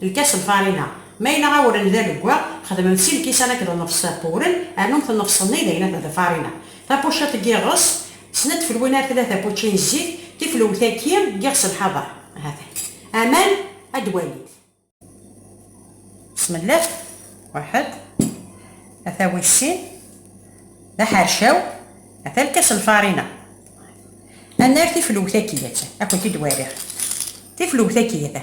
Lkas n farina. Ma yella awren d aleggaɣ, xedmem sin lkisan akked nnefṣ n wren, rnumt nnefṣ-nni d ayen akk d farina. Tapuciḍt n yiɣes, snat tfelwin ar tlata pučči n zzit, tiflewt-agi n yiɣes n lḥaḍer. Hatan. Aman, ad d-walit. Bismillah, waḥed, ata wis sin, d aḥercaw, ata lkas n farina. Ad nerr tiflewt-agi, ata, ad kent-id-waliɣ. Tiflewt-agi, ata,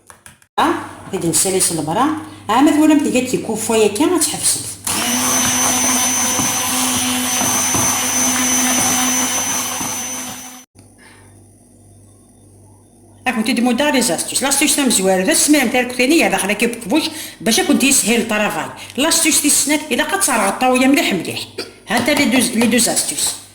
Ad nessali s lebra. Ɛa ma twalam tga-d tikuffa yakka ad tḥebsemt. Ad kent-id-muddeɣ les astuces. L'astuce tamezwarut, ad tesmilem tarekti-nni gar daxel akked uqbuc bac ad kent-yeshil ltravay. L'astuce tis snat, ilaq ad terɣeḍ ṭṭawya mliḥ mliḥ. Hanta les deux astuces.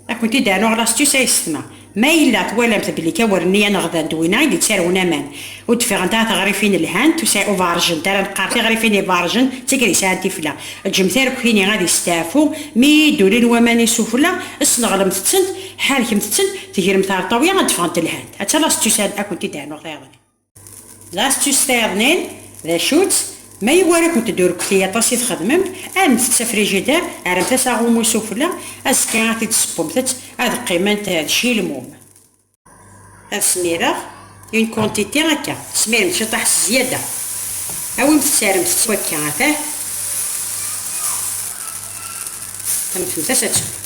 Ad kent-id aruɣ lastus ay ssetma. Ma yella twalamt belli tawurniya n ɣda n Dwina i d-yettarwen aman, ur d-fiɣent ara tiɣrifin lhant, ur beɛṛejent ara. Neqqar tiɣrifin ibeɛṛejen d tigri sɛan tifla. Ǧǧemt arekti-nni ad yesteɛfu, mi iyi-d-ulin waman isufella, sneɣlemt-tent, ḥerrkemt-tent, tegremt ɣer ṭṭawla ad d-ffɣent lhant. Atta lastus ad kent-id-rnuɣ tayeḍ-nni. L'astuce fernen, d acu-tt? Ma iwara-kent durkti aṭas i txedmemt, aremt-tt s afrijider, rremt-as aɣummu sufella, azekka ad t-id-tessewwemt-tt, ad qqiment d cilmum. Ad smireɣ une quantité akka, smiremt ciṭaḥ s zyada, awimt-tt rremt-tt wakka atah, rremt-as ad tsew.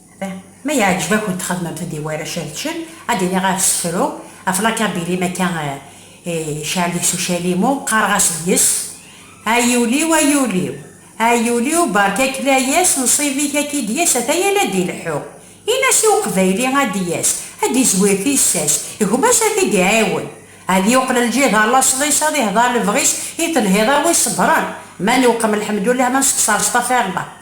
Ma yeɛǧeb-akent xedmemt-d i warrac ad ččen, ad d-iniɣ ɣef sefru, ɣef lakabir-im akka icɛel deg-s ucalimu, qqareɣ-as deg-s, Ay ul-iw, ay ul-iw! Ay ul-iw, berka-k layas, nnṣib-ik ad k-id-yas, ata yal ad d-ileḥḥu. Ini-as i uqbayli ad d-yas, ad d-izwir tissas, gma-s ad t-id-iɛiwen. Ad yuqel lǧiha laṣel-is, ad ihdeṛ lebɣi-s i telhiḍ a wi iṣebṛen. Ma newqem lḥemdullah, ma nessexṣer astafiṛllah.